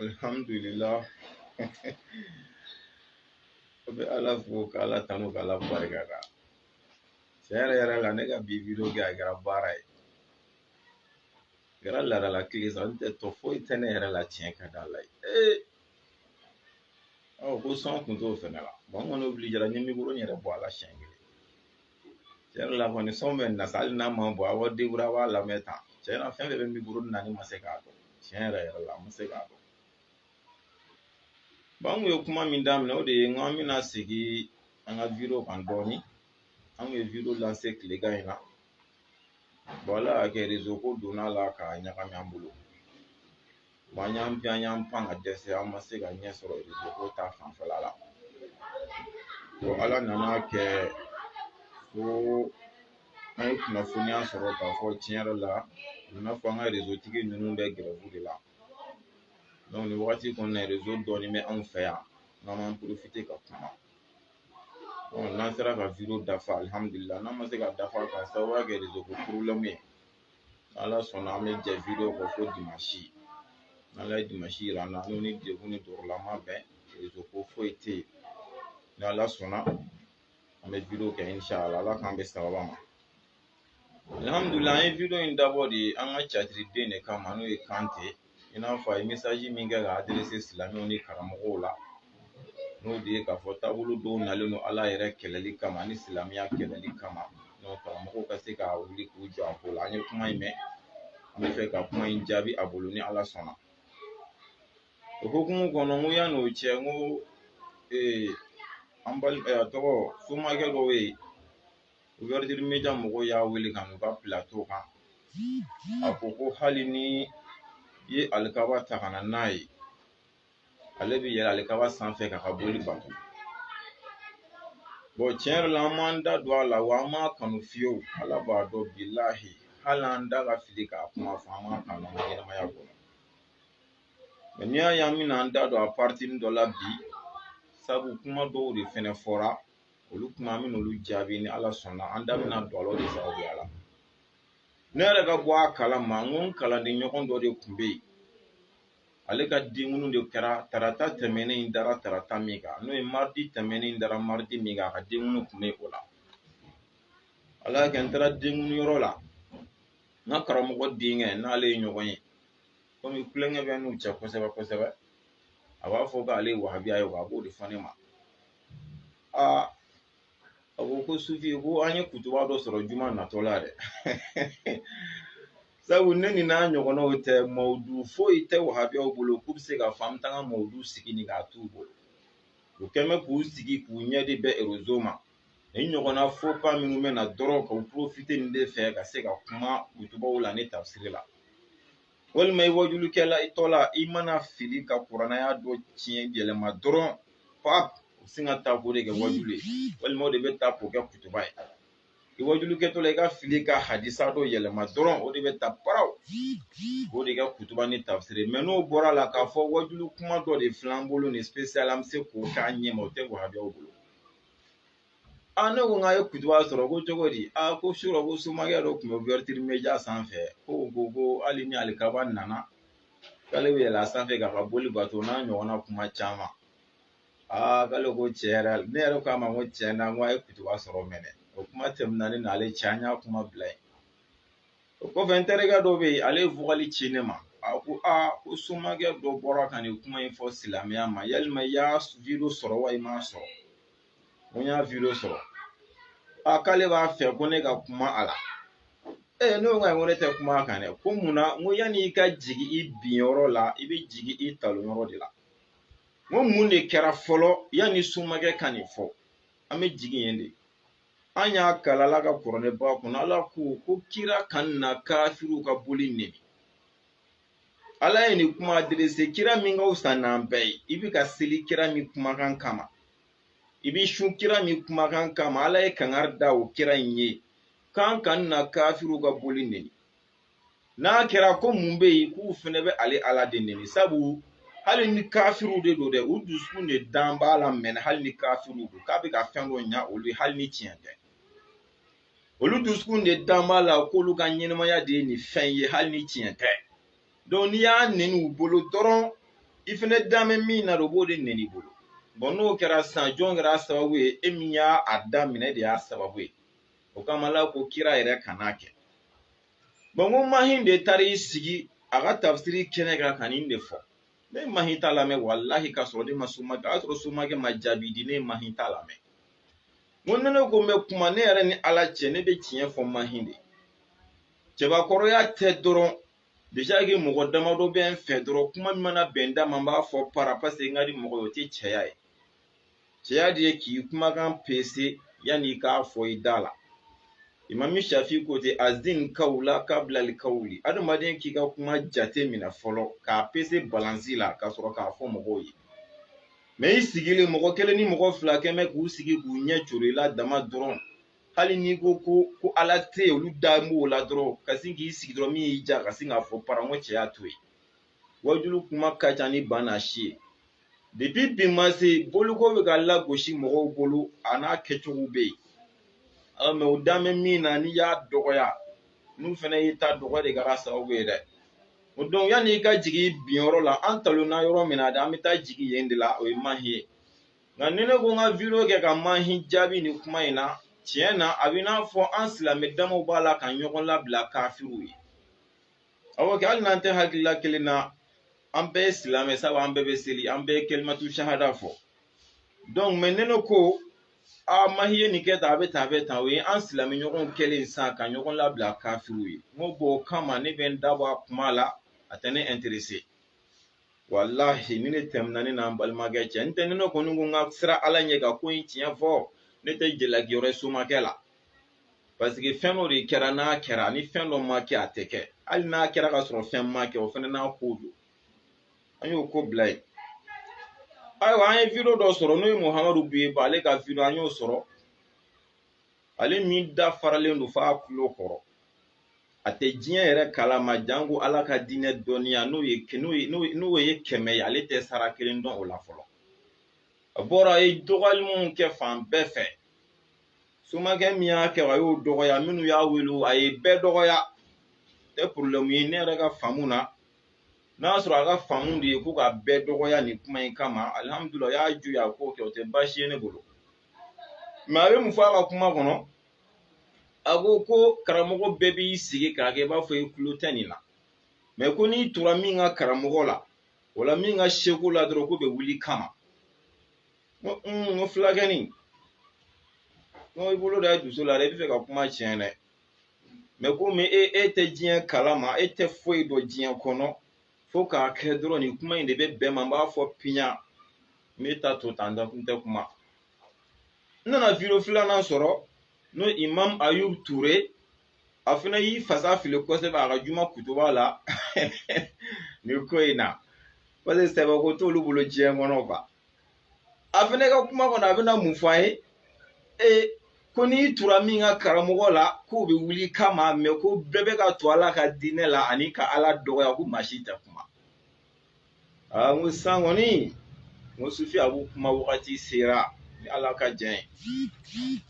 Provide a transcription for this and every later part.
alhamdulillah an bɛ ala fo ka ala tanu ka ala barika da tiɲɛ yɛrɛ yɛrɛ la ne ka bi video kɛ a kɛra baara ye a kɛra laadala tile sa n tɛ tɔ foyi tɛ ne yɛrɛ la tiɲɛ ka d'ala ye ee ɔ ko sɔn kun t'o fɛnɛ la bɔn n kɔni obilijera n ye mikoro in yɛrɛ bɔ a la siɲɛ kelen tiɲɛ yɛrɛ la kɔni sɔn bɛ na sa hali n'a ma bɔ a b'a deburuye a b'a lamɛn tan tiɲɛ na fɛn fɛn bɛ mikoro in na ne ma se k'a dɔn tiɲɛ yɛrɛ yɛrɛ la n ma se k'a dɔn an kun ye kuma min daminɛ o de ye n ko an bɛna segin an ka video kan dɔɔnin an kun ye video lanse tilegan in na ala y'a kɛ rezo ko donn'a la k'a ɲagami an bolo Bon an y'an pan y'an pan ka dɛsɛ an ma se ka ɲɛ sɔrɔ rezo ko ta fanfɛla la bon ala nan'a kɛ ko an ye kunnafoniya sɔrɔ k'a fɔ tiɲɛ yɛrɛ la a nana fɔ an ka rezo tigi ninnu bɛ gɛrɛvu de la nin wagati kɔnɔna rezo dɔɔnin bɛ anw fɛ yan n'an m'an porofite ka kuma n'an sera ka video dafa alihamudulila n'an ma se k'a dafa k'a sababuya kɛ rezo ko porobulɛmu ye ala sɔnna an bɛ jɛ video kɔ fo dimansi n'ala ye dimansi jira an na n'o ni degun ni tɔɔrɔla ma bɛn rezo ko foyi tɛ yen ni ala sɔnna an bɛ video kɛ inshala ala k'an bɛn sababa ma alihamudulila an ye video in dabɔ de an ka catiriden de kama n'o ye kante i n'a fɔ a ye mesaji min kɛ ka aderese silamɛw ni karamɔgɔw la n'o de ye k'a fɔ taabolo dɔw nalen don ala yɛrɛ kɛlɛli kama ani silamɛya kɛlɛli kama karamɔgɔw ka se ka wuli k'u jɔ a ko la an ye kuma in mɛn an bɛ fɛ ka kuma in jaabi a bolo ni ala sɔnna o hukumu kɔnɔ n ko yan'o cɛ n ko a tɔgɔ somakɛ dɔw ye mɔgɔw y'a wele ka n'u ka pilato kan a ko ko hali ni i ye alikaba ta ka na n'a ye ale bɛ yɛlɛ alikaba sanfɛ k'a ka boli bato tiɲɛ yɛrɛ la an m'an da don a la wa an m'a kanu fiyewu ala b'a dɔn bilahi hali an da ka fili k'a kuma fɔ an m'a kanu an ka ɲɛnamaya kɔnɔ n'i y'a ye an bɛna an da don a pariti dɔ la bi sabu kuma dɔw de fɛnɛ fɔra olu kuma an bɛna olu jaabi ni ala sɔnna an da bɛna don a la o de sababuya la ne yɛrɛ ka bɔ a kala ma n ko n kalanden ɲɔgɔn dɔ de tun bɛ yen ale ka denkunu de kɛra tarata tɛmɛnen in dara tarata min kan n'o ye maridi tɛmɛnen in dara maridi min kan a ka denkunu tun bɛ o la ala y'a kɛ n taara denkunu yɔrɔ la n ka karamɔgɔ denkɛ n'ale ye ɲɔgɔn ye komi kulonkɛ bɛ n'u cɛ kosɛbɛ kosɛbɛ a b'a fɔ k'ale ye wahabiya ye wa a b'o de fɔ ne ma aa a ko ko sufi ko an ye kutuba dɔ sɔrɔ juma natɔ la dɛ sabu ni nin n'a ɲɔgɔnnaw tɛ mawdu foyi tɛ wahabiyaw bolo k'u bɛ se k'a fɔ an bɛ taa an ka mawdu sigi nin kan a t'u bolo u kɛn bɛ k'u sigi k'u ɲɛ de bɛ erezo ma nin ɲɔgɔnna fo kan minnu bɛ na dɔrɔn ka u porofite nin de fɛ ka se ka kuma kutubaw la ni tafsiri la walima i wajulikɛtɔ la i mana fili ka kuranɛ aya dɔ tiɲɛ yɛlɛma dɔrɔn pap u sin k'a ta k'o de kɛ wajulu ye walima o de bɛ ta k'o kɛ kutuba ye i wajulikɛtɔ la i ka fili ka hadisa dɔ yɛlɛma dɔrɔn o de bɛ ta paraw k'o de kɛ kutuba ni tafsiri mɛ n'o bɔra a la k'a fɔ wajulu kuma dɔ de filɛ an bolo nin spesiyal an bɛ se k'o k'a ɲɛma o tɛ wahabiyaw bolo a ne ko n k'a ye kutuba sɔrɔ ko cogo di a ko surɔ ko somakɛ dɔ tun bɛ ouverture media sanfɛ ko ko ko hali ni alikaba nana k'ale bɛ yɛlɛ a sanfɛ k'a ka boli bato n'a ɲɔgɔnna kuma caman aa k'ale ko tiɲɛ yɛrɛ ne yɛrɛ k'a ma ko tiɲɛ na n ko a ye kutuba sɔrɔ mɛnɛ o kuma tɛmɛna ne n'ale cɛ an y'a kuma bila yen o kɔfɛ n terikɛ dɔ bɛ yen ale ye vocal ci ne ma a ko aa ko somakɛ dɔ bɔra ka nin kuma in fɔ silamɛya ma yalima i y'a video sɔrɔ wa i m'a sɔrɔ ko n y'a video sɔrɔ a k'ale b'a fɛ ko ne ka kuma a la ee ne ko ko ne tɛ kuma a kan dɛ ko mun na n ko yanni i ka jigi i bin yɔrɔ la i bɛ jigi i talon yɔrɔ de la n ko mun de kɛra fɔlɔ yanni somakɛ ka nin fɔ an bɛ jigin yen de an y'a kalan ala ka kuranɛba kɔnɔ ala ko ko kira kana kafiriw ka boli nɛni ala ye nin kuma adirese kira min ka fisa n'an bɛɛ ye i bɛ ka seli kira min kumakan kama i bɛ sun kira min kumakan kama ala ye kangari da o kira in ye k'a kana kafiriw ka boli neni n'a kɛra ko mun bɛ yen k'u fana bɛ ale ala de neni sabu hali ni kafiriw de don dɛ u dusukun de dan b'a la mɛnɛ hali ni kafiriw don k'a bɛ ka fɛn dɔ ɲa olu ye hali ni tiɲɛ tɛ olu dusukun de dan b'a la k'olu ka ɲɛnamaya de ye nin fɛn ye hali ni tiɲɛ tɛ donc n'i y'a neni u bolo dɔrɔn i fana dan bɛ min na o b'o de neni i bolo bɔn n'o kɛra sisan jɔn kɛra a sababu ye e min y'a daminɛ de y'a sababu ye o kama ala ko kira yɛrɛ kan'a kɛ bɔn ko mahin de taara i sigi a ka tafsiri kɛnɛ kan ka nin de fɔ ne mahin ta lamɛn walahi ka sɔrɔ ne ma somakɛ o y'a sɔrɔ somakɛ ma jaabi di ne mahin ta lamɛn n ko ni ne ko n bɛ kuma ne yɛrɛ ni ala cɛ ne bɛ tiɲɛ fɔ mahin de cɛbakɔrɔya tɛ dɔrɔn déjà que mɔgɔ damadɔ bɛ n fɛ dɔrɔn kuma min mana bɛn n da ma n b'a fɔ para paseke n ka di mɔgɔ ye o tɛ cɛya ye cɛya de ye k'i kumakan pese yanni i k'a fɔ i da la imami shafi ko ten azin kawla kabla alkawli adamaden k'i ka kuma jateminɛ fɔlɔ k'a pese balansi la ka sɔrɔ k'a fɔ mɔgɔw ye mɛ i sigilen mɔgɔ kelen ni mɔgɔ fila kɛ bɛ k'u sigi k'u ɲɛ coro i la dama dɔrɔn hali n'i ko ko ko ala tɛ yen olu da b'o la dɔrɔn ka sin k'i sigi dɔrɔn min y'i ja ka sin k'a fɔ paran n ko cɛ y'a to yen wajulu kuma ka ca ni ba n'a si ye depi bi ma se boliko bɛ ka lagosi mɔgɔw bolo a n'a kɛcogo bɛ yen aa mɛ o dan bɛ min na n'i y'a dɔgɔya n'u fana y'i ta dɔgɔya e de kɛra sababu ye dɛ o don yanni i ka jigin i binyɔrɔ la an talonna yɔrɔ min na de an bɛ taa jigin yen de la o ye mahi ye nka ni ne ko n ka video kɛ ka mahi jaabi nin kuma in na tiɲɛ na a bɛ n'a fɔ an silamɛ damaw b'a la ka ɲɔgɔn labila kafiriw ye awɔ kɛ hali n'an tɛ hakilila kelen na an bɛɛ ye silamɛ sabu an bɛɛ bɛ seli an bɛɛ ye kelimatu sahada fɔ donc mɛ ne ko a mahi ye nin kɛ tan a bɛ tan a bɛ tan o ye an silamɛ ɲɔgɔnw kɛlen sisan ka ɲɔgɔn labila kafiriw ye n ko bɔn o kama ne bɛ n da bɔ a kuma la a tɛ ne interese walahi ni ne tɛmɛna ne n'an balimakɛ cɛ n tɛ ne kɔni ko n ka siran ala ɲɛ ka ko in tiɲɛ fɔ ne tɛ jalaki yɔrɔ somakɛ la paseke fɛn dɔ de kɛra n'a kɛra ni fɛn dɔ ma kɛ a tɛ kɛ hali n'a kɛra ka sɔrɔ fɛn ma kɛ o fana n'a ko don an y'o ko bila yen ayiwa an ye video dɔ sɔrɔ n'o ye muhamadu buye ba ale ka video an y'o sɔrɔ ale min da faralen don f'a kulo kɔrɔ a tɛ diɲɛ yɛrɛ kalama janko ala ka diinɛ dɔnniya n'o ye kɛmɛ ye ale tɛ sara kelen dɔn o la fɔlɔ a bɔra a ye dɔgɔyali minnu kɛ fan bɛɛ fɛ somakɛ min y'a kɛ a y'o dɔgɔya minnu y'a wele a ye bɛɛ dɔgɔya tɛ porobilɛmu ye ne yɛrɛ ka faamu na n'a y'a sɔrɔ a ka faamu de ye ko ka bɛɛ dɔgɔya nin kuma in kama alihamudulila o y'a jo ye a k'o kɛ o tɛ baasi ye ne bolo mɛ a bɛ mun fɔ a ka kuma kɔnɔ a ko ko karamɔgɔ bɛɛ b'i sigi k'a kɛ i b'a fɔ i tulo tɛ nin na mɛ ko n'i tura min ka karamɔgɔ la wala min ka seku la dɔrɔn k'o bɛ wuli i kama n ko fulakɛni n ko i bolo da i dusu la dɛ i bɛ fɛ ka kuma tiɲɛ dɛ mɛ komi e e tɛ diɲɛ kalama e tɛ foyi dɔn diɲɛ kɔnɔ fo k'a kɛ dɔrɔn nin kuma in de bɛ bɛn n ma n b'a fɔ piɲa n b'e ta to tan n tɛ kuma n nana video filanan sɔrɔ n'o imam ayub ture a fana y'i fasa fili kosɛbɛ a ka juma kutuba la nin ko in na parce que sɛbɛko t'olu bolo diɲɛ kɔnɔ a fana ka kuma kɔnɔ a bɛna mun fɔ an ye ee ko n'i tura min ka karamɔgɔ la k'o bɛ wuli i kama mɛ ko bɛɛ bɛ ka tu ala ka diinɛ la ani ka ala dɔgɔya ko maa si tɛ kuma aa n ko sisan kɔni n ko sufi abu kuma wagati sera ni ala ka jɛn ye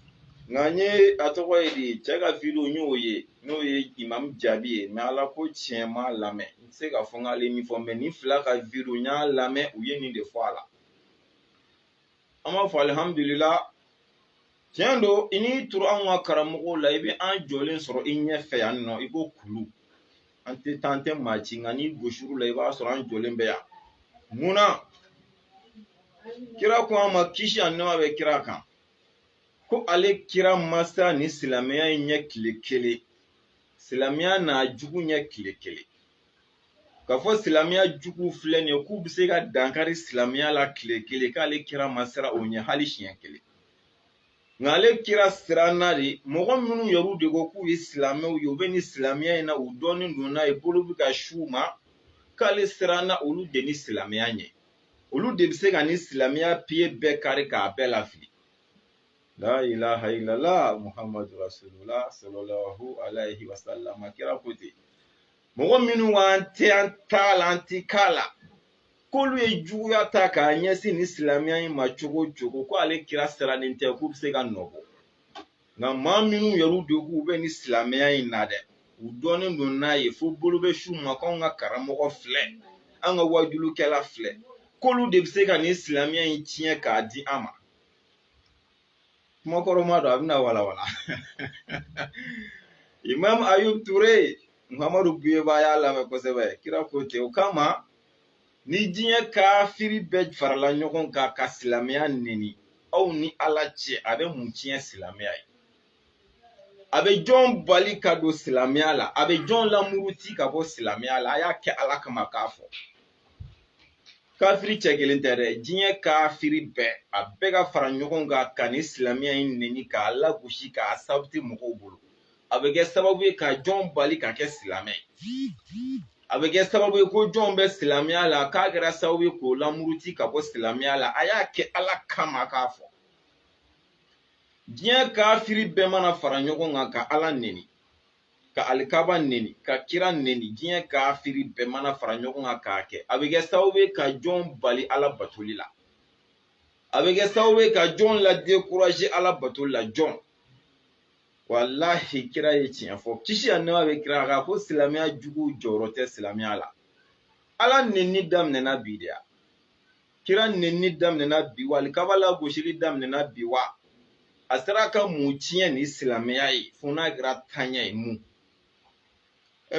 nka n ye a tɔgɔ ye di cɛ ka video n y'o ye n'o ye imam jaabi ye mɛ ala ko tiɲɛ n m'a lamɛn n se ka fɔ n k'ale min fɔ mɛ nin fila ka video n y'a lamɛn u ye nin de fɔ a la an b'a fɔ alihamudulila tiɲɛ don i n'i turu anw ka karamɔgɔw la i bɛ an jɔlen sɔrɔ i ɲɛfɛ yan nɔ i ko kulu an tɛ taa an tɛ maa ci nka n'i gosir'u la i b'a sɔrɔ an jɔlen bɛ yan munna kira ko an ma kisi ani nɛɛma bɛ kira kan ko ale kira ma siran ni silamɛya in ɲɛ tile kelen silamɛya n'a jugu ɲɛ tile kelen k'a fɔ silamɛya jugu filɛ nin ye k'u bɛ se ka dankari silamɛya la tile kelen k'ale kira ma siran o ɲɛ hali siɲɛ kelen nka ale kira siranna de mɔgɔ minnu yɛrɛw de ko k'u ye silamɛw ye u bɛ nin silamɛya in na u dɔnnen don n'a ye bolo bɛ ka s'u ma k'ale siranna olu de ni silamɛya ɲɛ olu de bɛ se ka nin silamɛya piye bɛɛ kari k'a bɛɛ lafili la ilaha illallah muhammadu rasulullah sallallahu alaihi wasallam kira ko ten mɔgɔ minnu b'an tɛ an t'a la an ti k'a la k'olu ye juguya ta k'a ɲɛsin ni silamɛya in ma cogo o cogo ko ale kira sirannen tɛ k'u bɛ se ka nɔ bɔ nka maa minnu yɛrɛw de k'u bɛ ni silamɛya in na dɛ u dɔnnen don n'a ye fo bolo bɛ s'u ma k'anw ka karamɔgɔ filɛ an ka waajulukɛla filɛ k'olu de bɛ se ka nin silamɛya in tiɲɛ k'a di an ma kumakɔrɔma don a bɛna walawala imam ayub ture muhammadu buyeba a y'a lamɛn kosɛbɛ kira ko ten o kama ni diɲɛ kafiri bɛɛ farala ɲɔgɔn kan ka silamɛya neni aw ni ala cɛ a bɛ mun tiɲɛ silamɛya ye a bɛ jɔn bali ka don silamɛya la a bɛ jɔn lamuruti ka bɔ silamɛya la a y'a kɛ ala kama k'a fɔ kafiri cɛ kelen tɛ dɛ diɲɛ kafiri bɛɛ a bɛɛ ka fara ɲɔgɔn kan ka ni silamɛya in neni k'a lagosi k'a sabote mɔgɔw bolo a bɛ kɛ sababu ye ka jɔn bali ka kɛ silamɛ ye a bɛ kɛ sababu ye ko jɔn bɛ silamɛya la k'a kɛra sababu ye k'o lamuruti ka bɔ silamɛya la a y'a kɛ ala kama k'a fɔ diɲɛ kafiri bɛɛ mana fara ɲɔgɔn kan ka ala neni ka alikaba neni ka kira neni diɲɛ kafiri bɛɛ mana fara ɲɔgɔn kan k'a kɛ a bɛ kɛ sababu ye ka jɔn bali ala batoli la a bɛ kɛ sababu ye ka jɔn ladekuraze ala batoli la jɔn walahi kira ye tiɲɛ fɔ kisi ani nɛɛma bɛ kira kan ko silamɛya jugu jɔrɔ tɛ silamɛya la ala neni daminɛna bi de ya kira nenni daminɛna bi wa alikaba lagosili daminɛna bi wa a sera ka mun tiɲɛ ni silamɛya ye fo n'a kɛra taɲɛ ye mun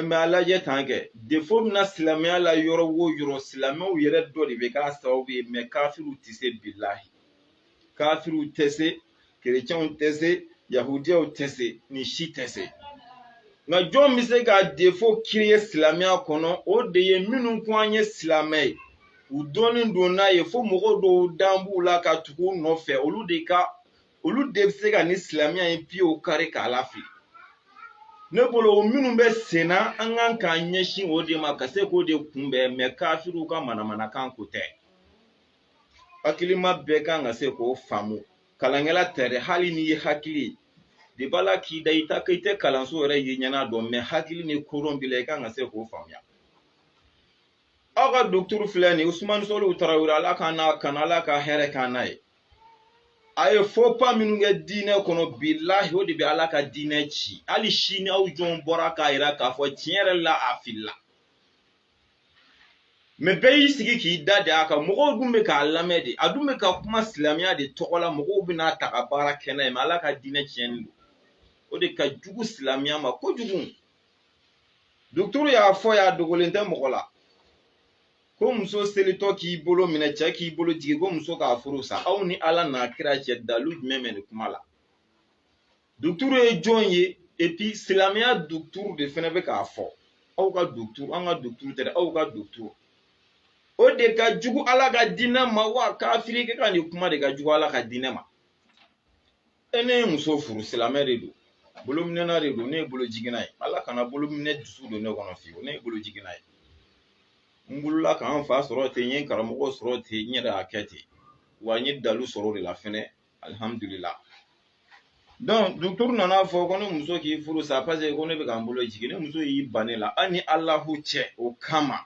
mɛ a lajɛ tan kɛ defo bɛ na silamɛya la yɔrɔ wo yɔrɔ silamɛw yɛrɛ dɔ de bɛ k'a sababu ye mɛ kafiriw tɛ se bilahi kafiriw tɛ se kerecɛnw tɛ se yahudiyaw tɛ se nin si tɛ se nka jɔn bɛ se ka defo kiriye silamɛya kɔnɔ o de ye minnu ko an ye silamɛ ye u dɔnnen don n'a ye fo mɔgɔ dɔw dan b'u la ka tugu u nɔfɛ olu de ka olu de bɛ se ka nin silamɛya in piyew kari k'a lafili ne bolo o minnu bɛ sen na an kan k'an ɲɛsin o de ma ka se k'o de kunbɛn mɛ kafiriw ka manamanakan ko tɛ hakilima bɛɛ kan ka se k'o faamu kalankɛla tɛ dɛ hali n'i ye hakili de b'a la k'i da i ta i tɛ kalanso yɛrɛ ye ɲɛna dɔn mɛ hakili ni kodɔn b'i la i kan ka se k'o faamuya aw ka dɔkituru filɛ nin usumani solihu tarawele ala k'an n'a kana ala ka hɛrɛ k'an n'a ye a ye fɔpa minnu kɛ diinɛ kɔnɔ bilahi o de bɛ ala ka diinɛ ci hali sini aw jɔn bɔra k'a yira k'a fɔ tiɲɛ yɛrɛ la a filila mɛ bɛɛ y'i sigi k'i da de a kan mɔgɔw dun bɛ k'a lamɛn de a dun bɛ ka kuma silamɛya de tɔgɔ la mɔgɔw bɛna taa ka baara kɛ n'a ye mɛ ala ka diinɛ tiɲɛni don o de ka jugu silamɛya ma kojugu duturu y'a fɔ y'a dogolen tɛ mɔgɔ la ko muso selitɔ k'i bolo minɛ cɛ k'i bolo jigin ko muso k'a furu sa aw ni ala n'a kira cɛ dalu jumɛn bɛ nin kuma la duturu ye jɔn ye epi silamɛya duturu de fana bɛ k'a fɔ aw ka duturu an ka duturu tɛ dɛ aw ka duturu o de ka jugu ala ka diinɛ ma wa kafirikɛ ka nin kuma de ka jugu ala ka diinɛ ma e ne ye muso furu silamɛ de don bolominɛna de don ne ye bolo jiginna ye ala kana bolominɛ dusu don ne kɔnɔ fiyewu ne ye bolo jiginna ye n wulila k'an fa sɔrɔ ten n ye karamɔgɔ sɔrɔ ten n yɛrɛ y'a kɛ ten wa n ye dalu sɔrɔ o de la fɛnɛ alihamudulila donc dɔkituru nana a fɔ ko ne muso k'i furu sa paseke ko ne bɛ ka n bolo jigin ne muso y'i ban ne la a ni alahu cɛ o kama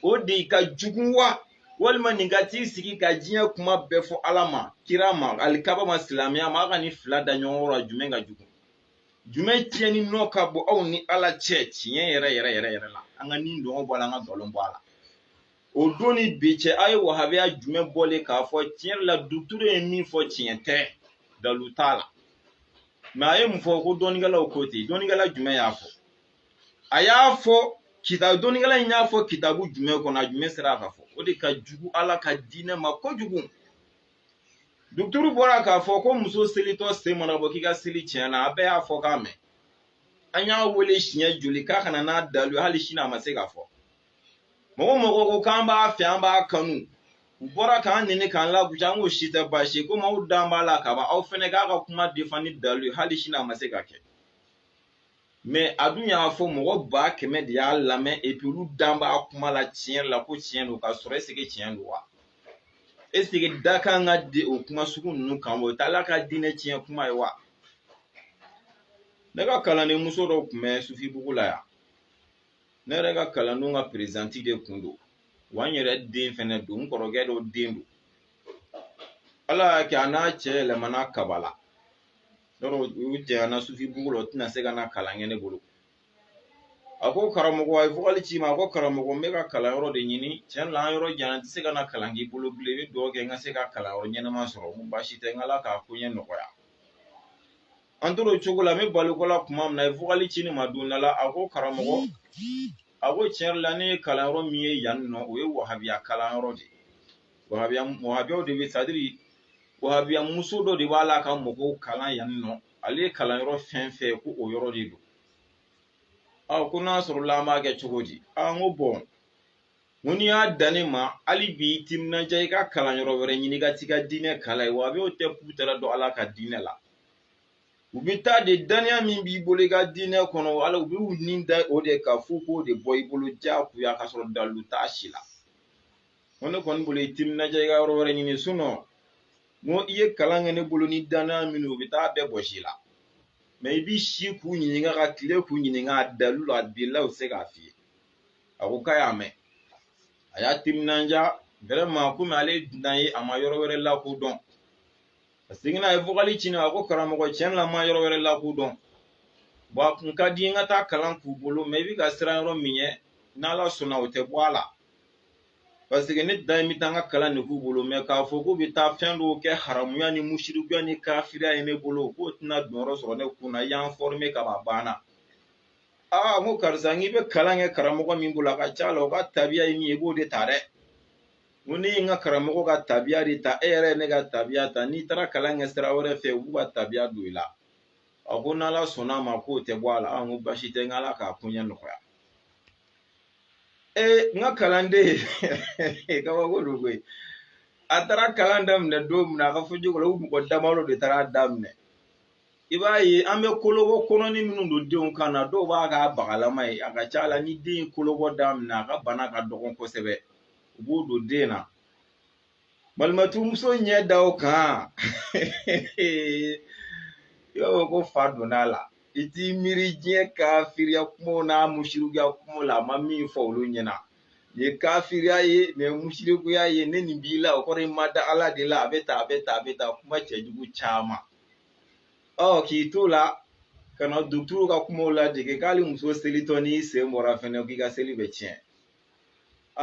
o de ka jugu wa walima nin ka t'i sigi ka diɲɛ kuma bɛɛ fɔ ala ma kira ma alikaba ma silamɛya ma a ka nin fila da ɲɔgɔn kɔrɔ jumɛn ka jugu jumɛn tiɲɛni nɔ ka bon aw ni ala cɛ tiɲɛ yɛrɛ yɛrɛ yɛrɛ yɛrɛ la an ka nidungɔ bɔ a la an ka nkalon bɔ a la o don ni bi cɛ a ye wahabiya jumɛn bɔlen k'a fɔ tiɲɛ la duturu ye min fɔ tiɲɛ tɛ dalu t'a la mɛ a ye mun fɔ ko dɔnnikɛlaw ko ten dɔnnikɛla jumɛn y'a fɔ a y'a fɔ kita dɔnnikɛla in y'a fɔ kitabu jumɛn kɔnɔ a jumɛn sera k'a fɔ o de ka jugu ala ka diinɛ ma kojugu duturu bɔra k'a fɔ ko muso selitɔ sen mana bɔ k'i ka seli tiɲɛna a bɛɛ y'a fɔkan mɛn an y'a wele siɲɛ joli k'a ka na n'a dalu hali sini a ma se k'a fɔ mɔgɔ mɔgɔ ko k'an b'a fɛ an b'a kanu u bɔra k'an nɛni k'an lagosi an k'o si tɛ baasi ye komi aw dan b'a la kaban aw fɛnɛ k'a ka kuma defan ni dalu ye hali sini a ma se ka kɛ mɛ a dun y'a fɔ mɔgɔ ba kɛmɛ de y'a lamɛn epi olu dan b'a kuma la tiɲɛ la ko tiɲɛ don k'a sɔrɔ eseke tiɲɛ don wa eseke da kan ka di o kuma sugu ninnu kan o t'ala ka diinɛ tiɲɛ kuma ye wa ne ka kalanden muso dɔ tun bɛ sufibugu la yan ne yɛrɛ ka kalandenw ka perezidanti de kun don wa n yɛrɛ den fɛnɛ don n kɔrɔkɛ dɔ den don ala y'a kɛ a n'a cɛ yɛlɛmana kabala yɔrɔ u janyana sufibugu la o tɛna se ka na kalan kɛ ne bolo a ko karamɔgɔ a ye vokali ci n ma a ko karamɔgɔ n bɛ ka kalanyɔrɔ de ɲini tiɲɛ la an yɔrɔ jan n tɛ se ka na kalan k'i bolo bilen i bɛ dugawu kɛ n ka se ka kalanyɔrɔ ɲɛnama sɔrɔ n ko baasi tɛ n k'ala k'a koɲɛ nɔgɔya an tora o cogo la n bɛ balo ko la tuma min na a ye vokali ci ne ma don dɔ la a ko karamɔgɔ a ko tiɲɛ yɛrɛ la ne ye kalanyɔrɔ min ye yan nɔ o ye wahabiya kalanyɔrɔ de ye wahabiyaw de bɛ c'est à dire wahabiya muso dɔ de b'a la ka mɔgɔw kalan yan nɔ ale ye kalanyɔrɔ fɛn fɛn ye ko o yɔrɔ de don ɔ ko n'a sɔrɔla an b'a kɛ cogo di aa n ko bɔn n ko n'i y'a dan ne ma hali bi i timinandiya i ka kalan yɔrɔ wɛrɛ ɲini ka t'i ka diinɛ kalan yen wahabiyaw tɛ putara dɔn ala ka diinɛ la u bɛ taa de dannaya min b'i bolo i ka diinɛ kɔnɔna la u bɛ u ni da o de kan f'u k'o de bɔ i bolo diyagoya ka sɔrɔ dalilu t'a si la ko ne kɔni bolo i timinandiya i ka yɔrɔ wɛrɛ ɲini sinɔn n ko i ye kalan kɛ ne bolo ni dannaya minnu u bɛ taa bɛɛ bɔ si la mɛ i b'i si k'u ɲininka ka tile k'u ɲininka a dalilu la a dalilu u tɛ se k'a f'i ye a ko k'a y'a mɛn a y'a timinanja vraiment komi ale ye dunan ye a ma yɔrɔ wɛrɛ lakodɔn a seginna a ye vokali ci ne ma a ko karamɔgɔ tiɲɛ la n ma yɔrɔ wɛrɛ lakodɔn bɔn a kun ka di n ka taa kalan k'u bolo mɛ i bɛ ka siran yɔrɔ min ɲɛ n'ala sɔnna o tɛ bɔ a la paseke ne dan ye n bɛ taa n ka kalan de k'u bolo mɛ k'a fɔ k'u bɛ taa fɛn dɔw kɛ haramuya ni musirikuya ni kafiriya ye ne bolo k'o tɛna donyɔrɔ sɔrɔ ne kun na i y'an fɔrime kaban a banna aa n ko karisa n'i bɛ kalan kɛ karamɔgɔ min bolo a ka ca la o ka tabiya ye min ye i b'o de ta dɛ n ko ne ye n ka karamɔgɔ ka tabiya de ta e yɛrɛ ye ne ka tabiya ta n'i taara kalan kɛ sira wɛrɛ fɛ u b'u ka tabiya don i la a ko n'ala sɔnna a ma k'o tɛ bɔ a la n ko baasi tɛ n k'ala k'a koɲɛ nɔgɔya ee n ka kalanden kabako don koyi a taara kalan daminɛ don min na a ka fɔ cogo la u mɔgɔ damadɔ de taara a daminɛ i b'a ye an bɛ kolobɔ kɔnɔni minnu don denw kan na dɔw b'a k'a bagalama ye a ka ca a la ni den ye kolobɔ daminɛ a ka bana ka dɔgɔn kosɛbɛ u b'o don den na malimatumuso ɲɛ da o kan i b'a fɔ ko fa donna a la i t'i miiri diɲɛ kafiriya kumaw n'a musirikuya kumaw la a ma min fɔ olu ɲɛna nin ye kafiriya ye nin ye musirikuya ye ni nin b'i la o kɔrɔ i ma da ala de la a bɛ tan a bɛ tan a bɛ tan kuma cɛjugu caman ɔ k'i t'o la ka na dɔgɔtɔrɔw ka kumaw ladege k'ali muso selitɔ n'i sen bɔra fɛnɛ k'i ka seli bɛ tiɲɛ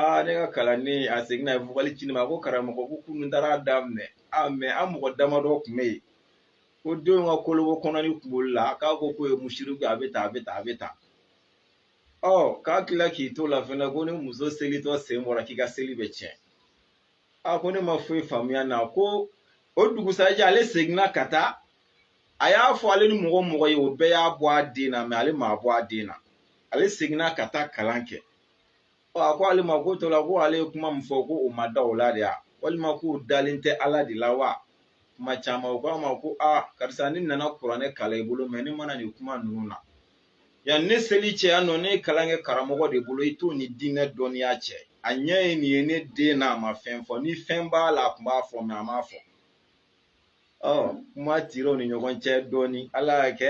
aa ne ka kalanden a seginna a ye vocal ci ne ma ko karamɔgɔ ko kunun taara daminɛ a mɛ an mɔgɔ damadɔ tun bɛ yen ko denw ka kolobɔ kɔnɔni kun b'olu la k'a ko k'o ye musiriku a bɛ tan a bɛ tan a bɛ tan ɔ k'a tila k'i to la fɛnɛ ko ni muso selitɔ sen bɔra k'i ka seli bɛ tiɲɛ a ko ne ma foyi faamuya na ko o dugusajɛ ale seginna ka taa a y'a fɔ ale ni mɔgɔ mɔgɔ ye o bɛɛ y'a bɔ a den na mɛ ale m'a bɔ a den na ale seginna ka taa kalan kɛ ɔ a ko ale mako t'o la ko ale ye kuma min fɔ ko o ma da o la de ya walima k'o dalen tɛ ala de la wa kuma caman o k'a ma ko a karisa ne nana kuranɛ kalan i bolo mɛ ne ma na nin kuma ninnu na yan ne seli cɛ yan nɔ ne ye kalan kɛ karamɔgɔ de bolo i t'o ni diinɛ dɔnniya cɛ a ɲɛ ye nin ye ne den n'a ma fɛn fɔ ni fɛn b'a la a kun b'a fɔ mɛ a m'a fɔ ɔ kuma tira u ni ɲɔgɔn cɛ dɔɔni ala y'a kɛ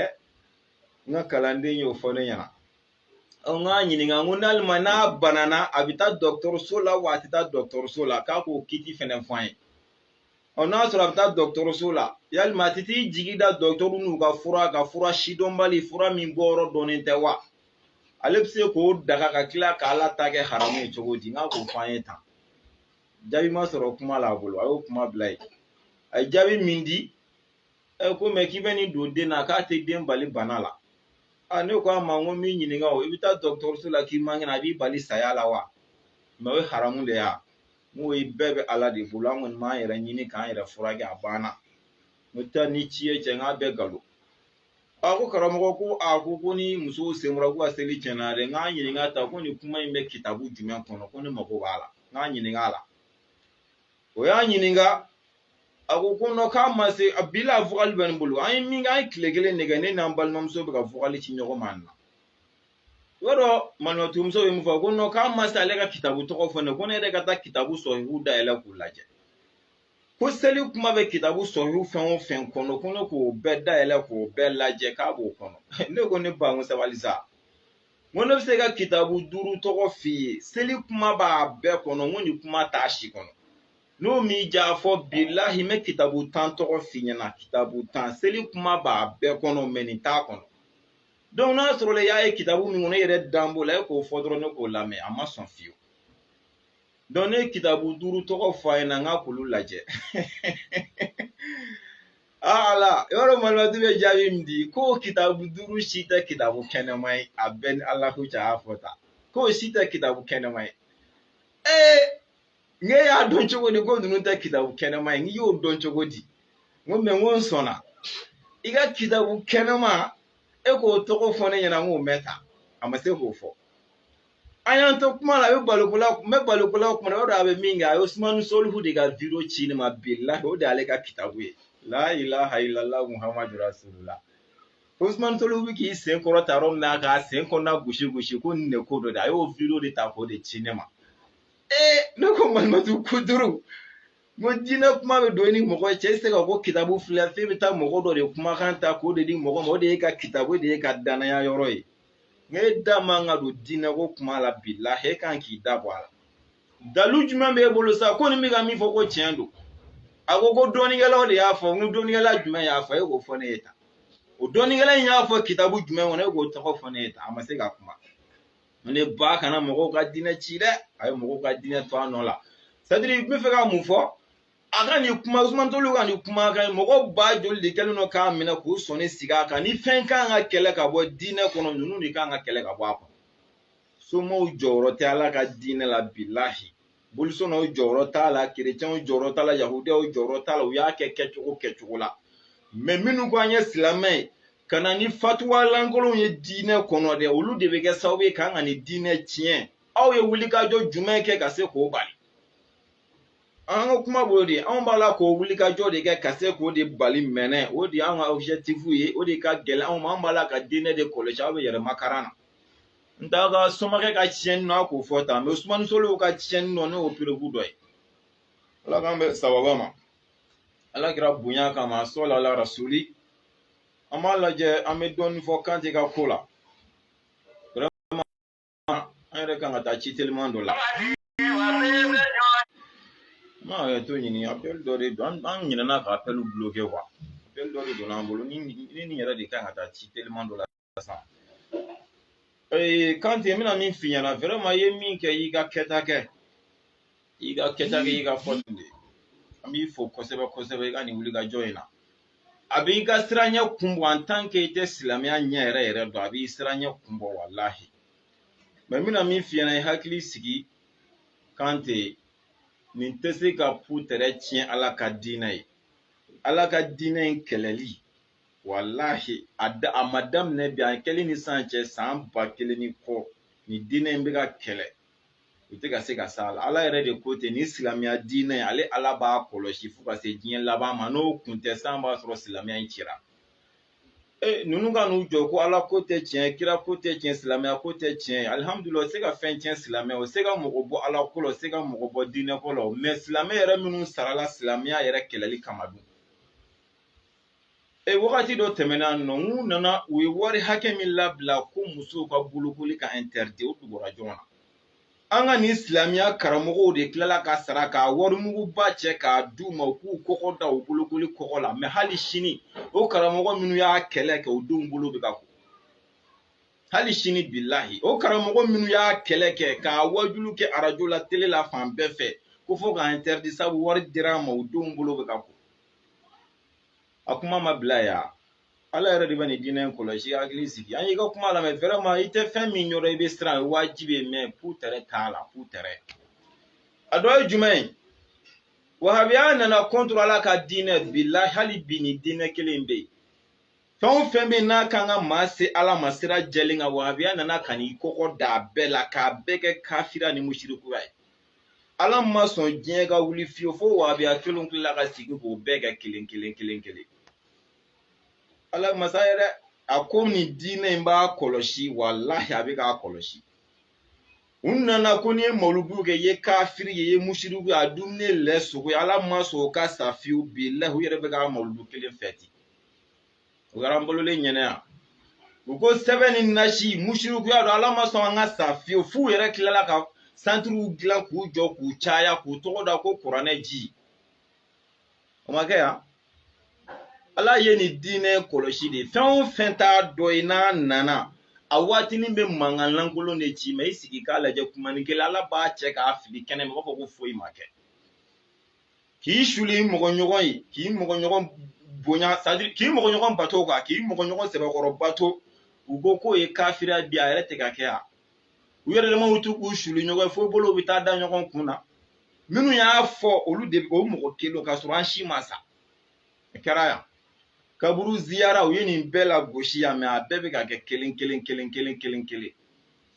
n ka kalanden y'o fɔ ne ɲɛna ɔ n k'a ɲininka n ko n'alima n'a banana a bɛ taa dɔgɔtɔrɔso la wa a tɛ taa dɔgɔtɔrɔso la k'a k'o kiti fɛnɛ fɔ an ye ɔ n'a sɔrɔ a bɛ taa dɔgɔtɔrɔso la yalima a tɛ t'i jigi da dɔgɔtɔrɔw n'u ka fura kan fura sidɔnbali fura min bɔyɔrɔ dɔnnen tɛ wa ale bɛ se k'o daga ka tila k'ala ta kɛ haramu ye cogo di n k'a k'o fɔ an ye tan jaabi ma sɔrɔ kuma la a bolo a y'o kuma bila yen a ye jaabi min di ɛ ko mɛ k'i bɛ nin don den na k'a tɛ den bali bana la a ne ko a ma n ko min ɲininka o i bɛ taa dɔgɔtɔrɔso la k'i man kɛnɛ a b'i bali saya la wa mɛ o ye haramu de ya N ko bɛɛ bɛ Ala de bolo an kɔni b'an yɛrɛ ɲini k'an yɛrɛ furakɛ a banna n'o tɛ ni ci ye cɛ n k'a bɛɛ nkalon a ko karamɔgɔ ko a ko ko ni musow sen bɔra k'u ka seli tiɲɛna dɛ n k'a ɲininka ta ko nin kuma in bɛ kitabu jumɛn kɔnɔ ko ne mago b'a la n k'a ɲininka a la o y'a ɲininka a ko ko nɔ k'a ma se a bi la vocal bɛ ne bolo an ye min kɛ an ye tile kelen de kɛ ne n'an balimamuso bɛ ka vocal ci ɲɔgɔn ma na i b'a dɔn malimatu muso ye mun fɔ ko nɔn k'a ma se ale ka kitabu tɔgɔ fɔ ne ko ne yɛrɛ ka taa kitabu sɔhihu dayɛlɛ k'u lajɛ ko seli kuma bɛ kitabu sɔhihu fɛn o fɛn kɔnɔ ko ne k'o bɛɛ dayɛlɛ k'o bɛɛ lajɛ k'a b'o kɔnɔ ne ko ne ba n ko sabali sa n ko ne bɛ se ka kitabu duuru tɔgɔ f'i ye seli kuma b'a bɛɛ kɔnɔ n ko nin kuma t'a si kɔnɔ n'o m'i ja fɔ bilahi n bɛ kitabu tan tɔgɔ f'i ɲɛna kitabu tan seli kuma b'a bɛɛ kɔnɔ mais nin t'a kɔnɔ donc n'a sɔrɔla i y'a ye kitabu min kɔnɔ e yɛrɛ dan b'o la e k'o fɔ dɔrɔn ne k'o lamɛn a ma sɔn fiyewu donc ne ye kitabu duuru tɔgɔ fɔ a ɲɛna n k'a k'olu lajɛ aa ala yɔrɔ malimatu bɛ jaabi min di ko kitabu duuru si tɛ kitabu kɛnɛma ye a bɛɛ ni ala ko cɛ a y'a fɔ tan k'o si tɛ kitabu kɛnɛma ye ee n k'e y'a dɔn cogo di ko ninnu tɛ kitabu kɛnɛma ye n k'i y'o dɔn cogo di n ko mɛ n ko n sɔnna i ka kitabu kɛnɛma e k'o tɔgɔ fɔ ne ɲɛna n k'o mɛn tan a ma se k'o fɔ an y'an to kuma la a bɛ balokola n bɛ balokola kuma na o de a bɛ min kɛ a ye usumani solihu de ka video ci ne ma bilahi o de y'ale ka kitabu ye la ilaha illallah muhammadu rasulullah Ousmane Solihu bɛ k'i sen kɔrɔta yɔrɔ min na k'a sen kɔnɔna gosi gosi ko nin de ko dɔ de a y'o video de ta k'o de ci ne ma ee ne ko malimatu ko duuru n ko diinɛ kuma bɛ don i ni mɔgɔ cɛ tɛ se ka ko kitabu filɛ f'e bɛ taa mɔgɔ dɔ de kumakan ta k'o de di mɔgɔ ma o de y'e ka kitabu de y'e ka dannaya yɔrɔ ye n ko e da man ka don diinɛ ko kuma la bilahi e kan k'i da bɔ a la dalu jumɛn b'e bolo sa ko nin bɛ ka min fɔ ko tiɲɛ don a ko ko dɔnnikɛlaw de y'a fɔ n ko dɔnnikɛla jumɛn y'a fɔ e k'o fɔ ne ye tan o dɔnnikɛla in y'a fɔ kitabu jumɛn kɔnɔ e k'o tɔgɔ fɔ ne ye tan a ma se ka kuma ne ba kana mɔgɔw ka diinɛ ci dɛ a ye mɔgɔw ka diinɛ to a nɔ la c'est-à-dire n bɛ fɛ ka mun fɔ a ka nin kuma usumani solihu ka nin kuma kan mɔgɔ ba joli de kɛlen don k'a minɛ k'u sɔnni sigi a kan ni fɛn kan ka kɛlɛ ka bɔ diinɛ kɔnɔ ninnu de kan ka kɛlɛ ka bɔ a kɔnɔ somaw jɔyɔrɔ tɛ ala ka diinɛ la bilahi bolisɔnnaw jɔyɔrɔ t'a la kerecɛnw jɔyɔrɔ t'a la yahudiyaw jɔyɔrɔ t'a la u y'a kɛ kɛcogo kɛcogo la mais minnu ko an ye silamɛ ye ka na ni fatuwa lankolonw ye diinɛ kɔnɔ dɛ olu de bɛ kɛ sababu ye k'an ka nin diinɛ tiɲɛ aw ye wulikajɔ jumɛn kɛ ka se k'o bali an ka kuma b'o de anw b'a la k'o wulikajɔ de kɛ ka se k'o de bali mɛnɛ o de y'an ka objectif ye o de ka gɛlɛn anw ma anw b'ala ka diinɛ de kɔlɔsi aw bɛ yɛrɛmakaran na n t'a ka somakɛ ka tiɲɛni nɔ a k'o fɔ tan mais usumani solihu ka tiɲɛni nɔ nin y'o preuve dɔ ye ala k'an bɛ sababa ma ala kira bonya kama sɔli ala rasuli an b'a lajɛ an bɛ dɔɔnin fɔ kante ka ko la vraiment an yɛrɛ kan ka taa ci teliman dɔ la n bɛ hakɛto ɲini apɛli dɔ de don an ɲinɛna ka apɛliw bloquer quoi apɛli dɔ de donna an bolo ni nin yɛrɛ de kan ka taa ci teliman dɔ la sa ee kante n bɛna min f'i ɲɛna vraiment i ye min kɛ i y'i ka kɛta kɛ i y'i ka kɛta kɛ i y'i ka fɔ nin de ye an b'i fo kosɛbɛ kosɛbɛ i ka nin wulikajɔ in na a b'i ka siraɲɛ kun bɔ en tant que i tɛ silamɛya ɲɛ yɛrɛ yɛrɛ dɔn a b'i siraɲɛ kun bɔ walahi mais n bɛna min f'i ɲɛna i hakili sigi kante nin tɛ se ka putɛrɛ tiɲɛ ala ka diinɛ ye ala ka diinɛ in kɛlɛli walahi a da a ma daminɛ bi a kɛli ni san cɛ san ba kelen ni kɔ nin diinɛ in bɛ ka kɛlɛ u tɛ ka se ka s'a la ala yɛrɛ de ko ten nin silamɛya diinɛ ale ala b'a kɔlɔsi fo ka se diɲɛ laban ma n'o kun tɛ san b'a sɔrɔ silamɛya in cira ee ninnu ka n'u jɔ ko ala ko tɛ tiɲɛ kira ko tɛ tiɲɛ silamɛya ko tɛ tiɲɛ alihamudulila o se ka fɛn tiɲɛ silamɛya o se ka mɔgɔ bɔ ala ko la o se ka mɔgɔ bɔ diinɛ ko la mais silamɛ yɛrɛ minnu sarala silamɛya yɛrɛ kɛlɛli kama dun E wagati dɔ tɛmɛna yan nɔ u nana u ye wari hakɛ min labila ko musow ka bolokoli ka interdit o dugura jɔn na an ka nin silamɛya karamɔgɔw de tilala ka sara ka warimuguba cɛ k'a d'u ma u k'u kɔgɔ da u bolokoli kɔgɔ la mais hali sini o karamɔgɔ minnu y'a kɛlɛ kɛ u denw bolo bɛ ka ko hali sini bilahi o karamɔgɔ minnu y'a kɛlɛ kɛ k'a waajulu kɛ arajo la tele la fan bɛɛ fɛ ko fo k'a interdit sabu wari dir'a ma u denw bolo bɛ ka ko a kuma ma bila yan ala yɛrɛ de bɛ nin diinɛ in kɔlɔsi hakili sigi an y'i ka kuma lamɛn vraiment i tɛ fɛn min ɲɛdɔn i bɛ siran o ye wajibi ye mais putɛrɛ t'a la putɛrɛ a dɔ ye jumɛn ye wahabiya nana contre ala ka diinɛ bilahi hali bi nin diinɛ kelen bɛ yen fɛn o fɛn bɛ yen n'a kan ka maa se ala ma sira jɛlen kan wahabiya nana ka n'i kɔgɔ da a bɛɛ la k'a bɛɛ kɛ kafiriya ni musirikuya ye ala ma sɔn diɲɛ ka wuli fiyewu fo wahabiya kelen tilala ka sigi k'o bɛɛ kɛ kelen kelen kelen kelen ala masa yɛrɛ a ko nin diinɛ in b'a kɔlɔsi walahi a bɛ k'a kɔlɔsi u nana ko n'i ye mawuludu kɛ i ye kafiri ye i ye musiriku ye a dumuni ye lɛ sogo ye ala ma sɔn o ka sa fiyewu bilahi u yɛrɛ bɛ ka mawuludu kelen fɛti o kɛra an wololen ɲɛna yan u ko sɛbɛn ni nasi musirikuya don ala ma sɔn an ka sa fiyewu f'u yɛrɛ tilala ka santiriw dilan k'u jɔ k'u caya k'u tɔgɔ da ko kuranɛ ji o ma kɛ yan ala ye nin diinɛ kɔlɔsi de fɛn o fɛn t'a dɔ ye n'a nana a waatinin bɛ mankan lankolon de ci mais i sigi k'a lajɛ kumanin kelen ala b'a cɛ k'a fili kɛnɛ ma i b'a fɔ ko foyi ma kɛ k'i suli i mɔgɔ ɲɔgɔn ye k'i mɔgɔ ɲɔgɔn bonya k'i mɔgɔ ɲɔgɔn bato ka k'i mɔgɔ ɲɔgɔn sɛbɛkɔrɔ bato u ko k'o ye kafiriya bi a yɛrɛ tɛ ka kɛ yan u yɛrɛ damaw t'u k'u suli ɲɔgɔn ye fo bolow bɛ taa da ɲɔgɔn kun na minnu y'a fɔ olu de o mɔgɔ kelen ka sɔrɔ an si ma sa a kɛra yan kaburu ziyara u ye nin bɛɛ lagosi yan mɛ a bɛɛ bɛ ka kɛ kelen kelen kelen kelen kelen kelen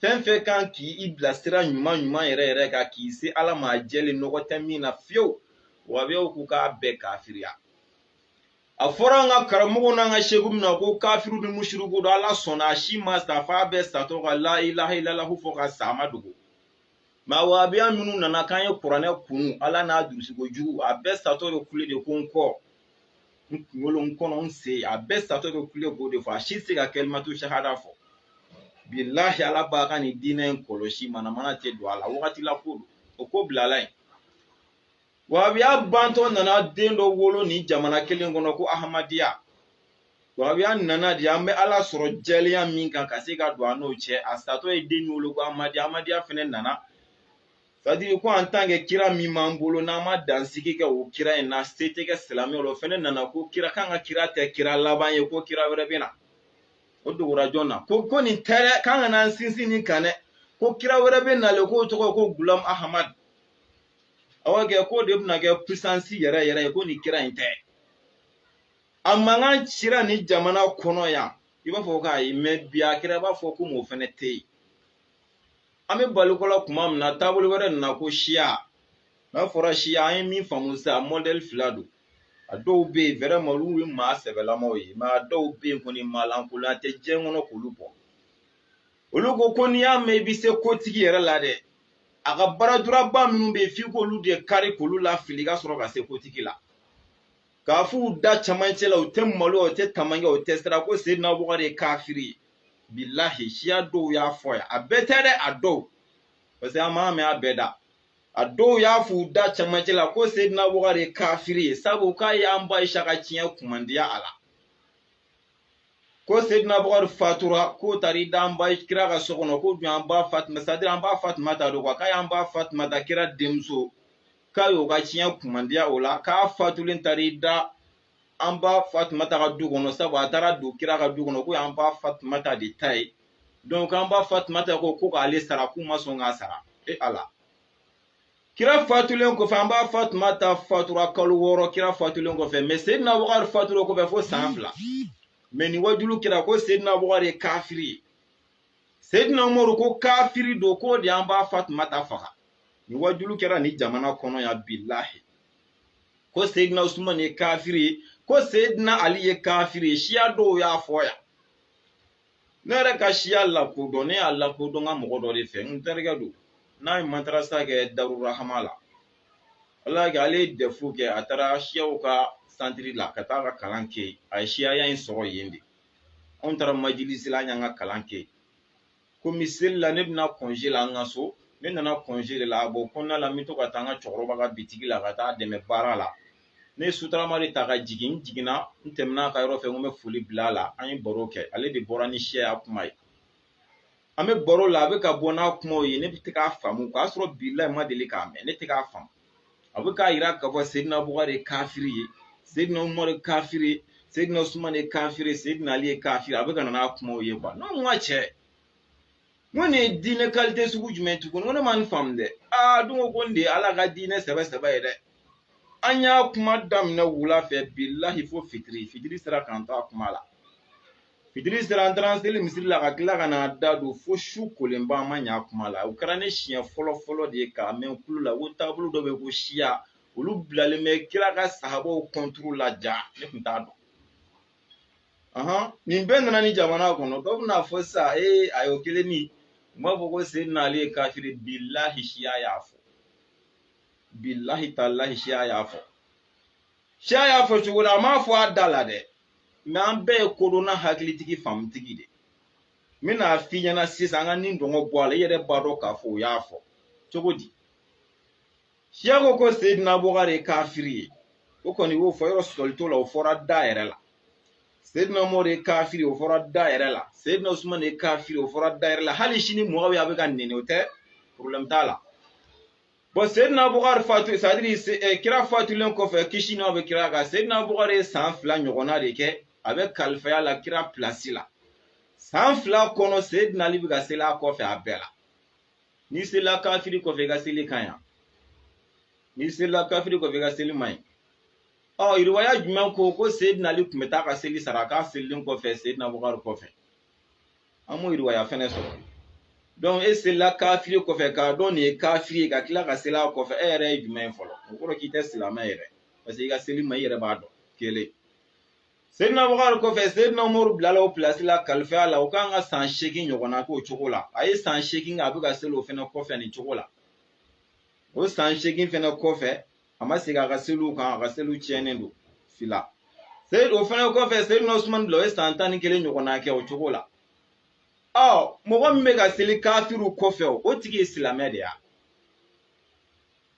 fɛn fɛn kan k'i bilasira ɲuman ɲuman yɛrɛ yɛrɛ kan k'i se ala ma jɛlen nɔgɔ tɛ min na fiyewu wahabiyaw ko k'a bɛɛ kafiriya a fɔra an ka karamɔgɔw n'an ka seku min na ko kafiriw ni musiriku don ala sɔnna a si ma sa f'a bɛɛ satɔ ka la ilaha ilalahu fɔ ka sa a ma dogo mɛ wahabiya minnu nana k'an ye kuranɛ kunu ala n'a durusiko jugu a bɛɛ satɔ bɛ kule de ko n kɔ n kunkolo n kɔnɔ n sen a bɛɛ satɔ bɛ kule k'o de fɔ a si tɛ se ka kalimatu sahada fɔ bilahi ala b'a ka nin diinɛ in kɔlɔsi manamana tɛ don a la wagati la ko don o ko bilala yen wahabiya bantɔ nana den dɔ wolo nin jamana kelen kɔnɔ ko ahamadiya wahabiya nana de an bɛ ala sɔrɔ jɛlenya min kan ka se ka don an n'o cɛ a satɔ ye den min wolo ko ahamadiya ahamadiya fɛnɛ nana c'est-à-dire ko en tant que kira min b'an bolo n'an ma dansigi kɛ o kira in na se tɛ kɛ silamɛw la o fɛnɛ nana ko kira k'an ka kira tɛ kira laban ye ko kira wɛrɛ bɛ na o dogora jɔn na ko ko nin tɛ dɛ k'an kana an sinsin nin kan dɛ ko kira wɛrɛ bɛ nalen k'o tɔgɔ ye ko gulam ahamad aw kɛ k'o de bɛna kɛ puissance yɛrɛ yɛrɛ ye ko nin kira in tɛ a mankan cira nin jamana kɔnɔ yan i b'a fɔ k'a ye mɛ bi a kɛra i b'a fɔ komi o fɛnɛ tɛ yen an bɛ baliko la tuma min na taabolo wɛrɛ nana ko siya n'a fɔra siya an ye min faamu sisan mɔdɛli fila don a dɔw bɛ yen vraiment olu ye maa sɛbɛlamaw ye mɛ a dɔw bɛ yen kɔni maa lankolon tɛ diɲɛ kɔnɔ k'olu bɔ olu ko ko n'i y'a mɛn i bɛ se kotigi yɛrɛ la dɛ a ka bras droit ba minnu bɛ yen f'i k'olu de kari k'olu lafili ka sɔrɔ ka se kotigi la k'a f'u da camancɛ la u tɛ malo u tɛ tamankɛ u tɛ siran ko sedina bukari ye kafiri ye bilahi siya dɔw y'a fɔ yan a bɛɛ tɛ dɛ a dɔw parce que an m'a mɛn a bɛɛ da a dɔw y'a f'u da camancɛ la ko sedina bukari ye kafiri ye sabu k'a y'an ba ayisa ka ciyɛn kumandiya a la ko seydina bukari fatura k'o taara i da an ba kira ka so kɔnɔ ko jɔn an ba fatima c'est-à-dire an ba fatimata don quoi k'a y'an ba fatimata kira denmuso k'a y'o ka ciyɛn kumandiya o la k'a fatulen taara i da an ba fatimata ka du kɔnɔ sabu a taara don kira ka du kɔnɔ k'o y'an ba fatimata de ta ye donc an ba fatimata ko ko k'ale sara k'u ma sɔn k'a sara e ala kira fatulen kɔfɛ an ba fatumata fatura kalo wɔɔrɔ kira fatulen kɔfɛ mɛ sedina bukari fatura kɔfɛ fo san fila mɛ nin wajulu kɛra ko sedina bukari ye kafiri ye sedina umaru ko kafiri don k'o de an ba fatumata faga nin wajulu kɛra nin jamana kɔnɔ yan bilahi ko sedina usumani ye kafiri ye ko sedina ali ye kafiri ye siya dɔw y'a fɔ yan ne yɛrɛ ka siya lakodɔn ne y'a lakodɔn n ka mɔgɔ dɔ de fɛ n terikɛ don n'a ye matarasa kɛ darurahama la ala y'a kɛ ale ye dɛfu kɛ a taara siyaw ka santiri la ka taa ka kalan kɛ yen a ye siyaya in sɔrɔ yen de anw taara majilisi la an y'an ka kalan kɛ yen komi seli la ne bɛna kɔnze la an ka so ne nana kɔnze de la a bɔ kɔnɔna la n bɛ to ka taa an ka cɛkɔrɔba ka bitigi la ka taa a dɛmɛ baara la ne ye sotarama de ta ka jigin n jiginna n tɛmɛna a ka yɔrɔ fɛ n ko n bɛ foli bila a la an ye baro kɛ ale de bɔra ni siya kuma ye an bɛ baro la a bɛ ka bɔ n'a kumaw ye ne bɛ tɛ k'a faamu o y'a sɔrɔ bilahi n ma deli k'a mɛn ne tɛ k'a faamu a bɛ k'a yira k'a fɔ sedina bukari ye kafiri ye sedina umaru ye kafiri ye sedina usumani ye kafiri ye sedina ali ye kafiri a bɛ ka na n'a kumaw ye kuwa ne ko n ka cɛ n ko nin ye diinɛ kalite sugu jumɛn ye tuguni n ko ne ma nin faamu dɛ aa dun ko ko nin de ye ala ka diinɛ sɛbɛ sɛbɛ ye dɛ an y'a kuma daminɛ wula fɛ bilahi fo fitiri fitiri sera k'an to a kuma la fitiri sera an taara an seli misiri la ka tila ka na da don fo su kolenba an ma ɲa a kuma la o kɛra ne siɲɛ fɔlɔ fɔlɔ de ye k'a mɛn n kulo la ko taabolo dɔ bɛ yen ko siya olu bilalen bɛ kira ka sahabaw kɔnturu la ja ne tun t'a dɔn nin bɛɛ nana ni jamana kɔnɔ dɔ bɛn'a fɔ sisan ee ayi o kelen nin u m'a fɔ ko sedina ali ye kafiri bilahi siya y'a fɔ bilahi talahi siya y'a fɔ siya y'a fɔ cogo la a m'a fɔ a da la dɛ mɛ an bɛɛ ye kodɔnna hakilitigi faamutigi de n bɛn'a f'i ɲɛna sisan an ka nin dogo bɔ a la i yɛrɛ b'a dɔn k'a fɔ o y'a fɔ cogo di siya ko ko seyidina bukari ye kafiri ye o kɔni y'o fɔ yɔrɔ sɔsɔli t'o la o fɔra da yɛrɛ la seyidina umaru ye kafiri o fɔra da yɛrɛ la seyidina usumani ye kafiri o fɔra da yɛrɛ la hali sini muwawiya bɛ ka nɛni o tɛ porobilɛmu t'a la bɔn seyidina bukari fatu sɛtadiri eh, kira fatulen kɔfɛ kisi n'a bɛ kira kan seyidina bukari ye san fila ɲɔgɔnna de kɛ a bɛ kalifaya la kira pilasi la san fila kɔnɔ seyidina ali bɛ ka seli a kɔfɛ a bɛɛ la n'i selila kafiri kɔfɛ i ka seli ka ɲi n'i selila kafiri kɔfɛ i ka seli man ɲi ɔ riwaya jumɛn ko ko seyidina ali tun bɛ taa ka seli sara k'a selilen kɔfɛ seyidina bukari kɔfɛ an m'o riwaya fɛnɛ sɔrɔ donc e selila kafiri kɔfɛ k'a dɔn nin ye kafiri ye ka tila ka seli a kɔfɛ e yɛrɛ ye jumɛn ye fɔlɔ o kɔrɔ k'i tɛ silamɛ yɛrɛ parce que i ka seli ma i yɛrɛ b'a dɔn kelen Seydina Abubakari kɔfɛ Seydina Umaru bilala o pilasi la kalifiya la o kan ka san seegin ɲɔgɔnna k'o cogo la a ye san seegin kɛ a bɛ ka seli o fɛnɛ kɔfɛ nin cogo la o san seegin fɛnɛ kɔfɛ a ma segin a ka seliw kan a ka seliw tiɲɛnen don fila o fɛnɛ kɔfɛ Seydina Usumani bila o ye san tan ni kelen ɲɔgɔnna kɛ o cogo la ɔ mɔgɔ min bɛ ka seli kafiriw kɔfɛ o tigi ye silamɛ de ye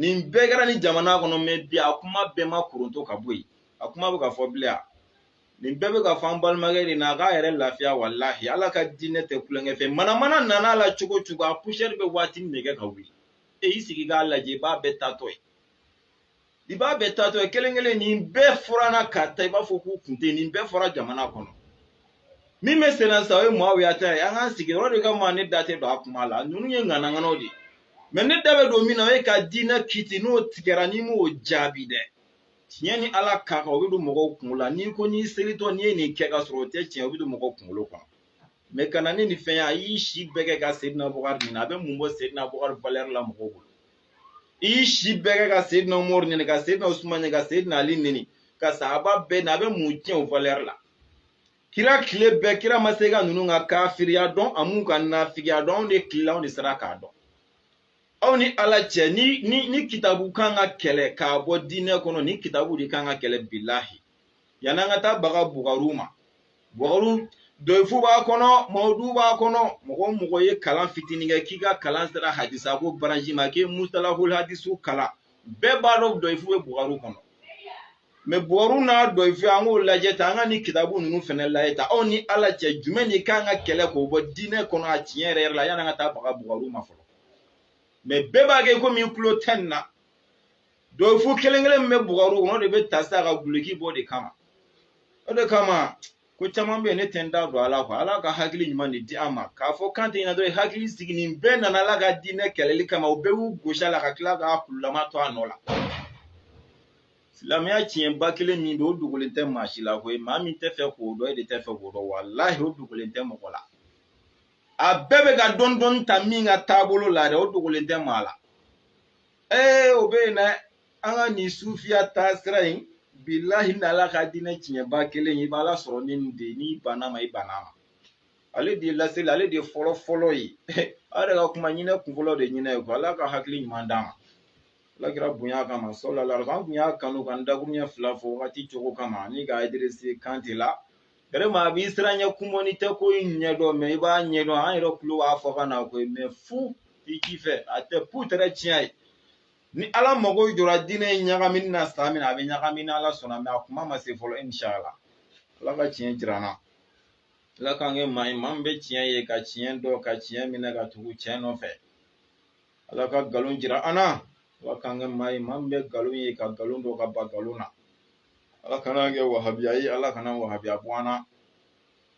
nin bɛɛ kɛra ni jamana kɔnɔ mɛ bi a kuma bɛɛ ma koronto ka bɔ yen a kuma bɛ ka fɔ bilen a nin bɛɛ bɛ ka fɔ an balimakɛ de na a k'a yɛrɛ lafiya walahi ala ka diinɛ tɛ kulonkɛ fɛn manamana nana la cogo cogo a poussière bɛ waati min kɛ ka wuli e y'i sigi k'a lajɛ i b'a bɛɛ taatɔ ye i b'a bɛɛ taatɔ ye kelen kelen nin bɛɛ fɔra an na ka taa i b'a fɔ k'u kun tɛ nin bɛɛ fɔra jamana kɔnɔ min bɛ senna sa o ye muawiya ta ye an k'an sigi yɔrɔ de kama ne da tɛ don a kuma la ninnu ye ŋanaŋanaw de ye mɛ ne da bɛ don min na o ye ka diinɛ kiti n'o tigɛra n'i m'o jaabi dɛ tiɲɛ ni ala ka kan o bɛ don mɔgɔw kunkolo la n'i ko n'i selitɔ n'i ye nin kɛ ka sɔrɔ o tɛ tiɲɛ o bɛ don mɔgɔw kunkolo kɔnɔ mɛ ka na ni nin fɛn ye a y'i si bɛɛ kɛ ka seyidina abubakari neni a bɛ mun bɔ seyidina abubakari valɛri la mɔgɔw bolo i y'i si bɛɛ kɛ ka seyidina umaru neni ka seyidina usumani neni ka seyidina ali neni ka sahaba bɛɛ neni a bɛ mun tiɲɛ u valɛri la kira tile bɛɛ kira ma se ka ninnu ka kafiriya dɔn a m'u ka nafigiya dɔn anw de tile la anw de sera k'a dɔn aw ni ala cɛ ni ni ni kitabu kan ka kɛlɛ k'a bɔ diinɛ kɔnɔ ni kitabu de kan ka kɛlɛ bilahi yan'an ka taa baga bugaru ma bugaru doyifu b'a kɔnɔ mawudu b'a kɔnɔ mɔgɔ mɔgɔ ye kalan fitinin kɛ k'i ka kalan sera hadisa ko branche ma k'i mustalahul hadisu kalan bɛɛ b'a dɔn doyifu bɛ bugaru kɔnɔ mɛ bugaru n'a doyifu an k'o lajɛ ta an ka nin kitabu ninnu fɛnɛ lajɛ ta aw ni ala cɛ jumɛn de kan ka kɛlɛ k'o bɔ diinɛ kɔnɔ a tiɲɛ yɛrɛ yɛrɛ la yan'an ka taa baga bugaru ma fɔlɔ mɛ bɛɛ b'a kɛ komi i tulo tɛ nin na doyifu kelen kelen min bɛ bugaru kɔnɔ de bɛ ta sa ka duloki bɔ de kama o de kama ko caman bɛ yen ne tɛ n da don a la quoi ala ka hakili ɲuman de di an ma k'a fɔ kan tɛ ɲɛna dɔrɔn hakili sigi nin bɛɛ nana ala ka diinɛ kɛlɛli kama u bɛɛ y'u gosi a la ka tila k'a kululama to a nɔ la silamɛya tiɲɛba kelen min don o dogolen tɛ maa si la koyi maa min tɛ fɛ k'o dɔn e de tɛ fɛ k'o dɔn walahi o dogolen tɛ mɔgɔ la a bɛɛ bɛ ka dɔɔni dɔɔni ta min ka taabolo la dɛ o dogolen tɛ maa la ee o bɛ yen dɛ an ka nin sufiya taasira in bilahi ni ala ka diinɛ tiɲɛba kelen i b'a lasɔrɔ ni nin de n'i bann'a ma i bann'a ma ale de ye lasili ale de ye fɔlɔ fɔlɔ ye aw yɛrɛ ka kuma ɲinɛ kun fɔlɔ de ɲinɛ ye ko ala ka hakili ɲuman d'an ma ala kira bonya kama sallallahu alaihi an tun y'a kanu ka nin dakuruɲɛ fila fɔ wagati cogo kama ni ka idirisi kantɛ la Vraiment a b'i siran ɲɛ kumɔni tɛ ko in ɲɛdɔn mɛ i b'a ɲɛdɔn an yɛrɛ tulo b'a fɔkan na koyi mɛ fu i k'i fɛ a tɛ pu tɛrɛ tiɲɛ ye ni ala mago jɔra diinɛ in ɲagamini na san min a bɛ ɲagami ni ala sɔnna mɛ a kuma ma se fɔlɔ inshala ala ka tiɲɛ jira an na ala k'an kɛ maa ye maa min bɛ tiɲɛ ye ka tiɲɛ dɔn ka tiɲɛ minɛ ka tugu tiɲɛ nɔfɛ ala ka nkalon jira an na ala k'an kɛ maa ye maa min bɛ nkalon ye ka nkalon dɔn ka ban nkalon na ala kana an kɛ wahabiya ye ala kana wahabiya bɔ an na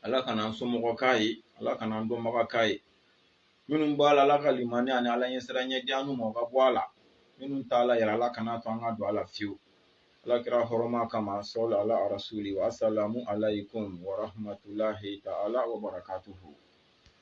ala kana an somɔgɔ k'a ye ala kana an dɔnbaga k'a ye minnu b'a la ala ka limaniya ani ala ɲɛsiranɲɛ di an n'u ma o ka bɔ a la minnu t'a la yɛrɛ ala kana to an ka don a la fiyewu ala kira hɔrɔma kama sɔli ala arasuli wa asalamu alaykum wa rahmatulahi taala wa barakatuhu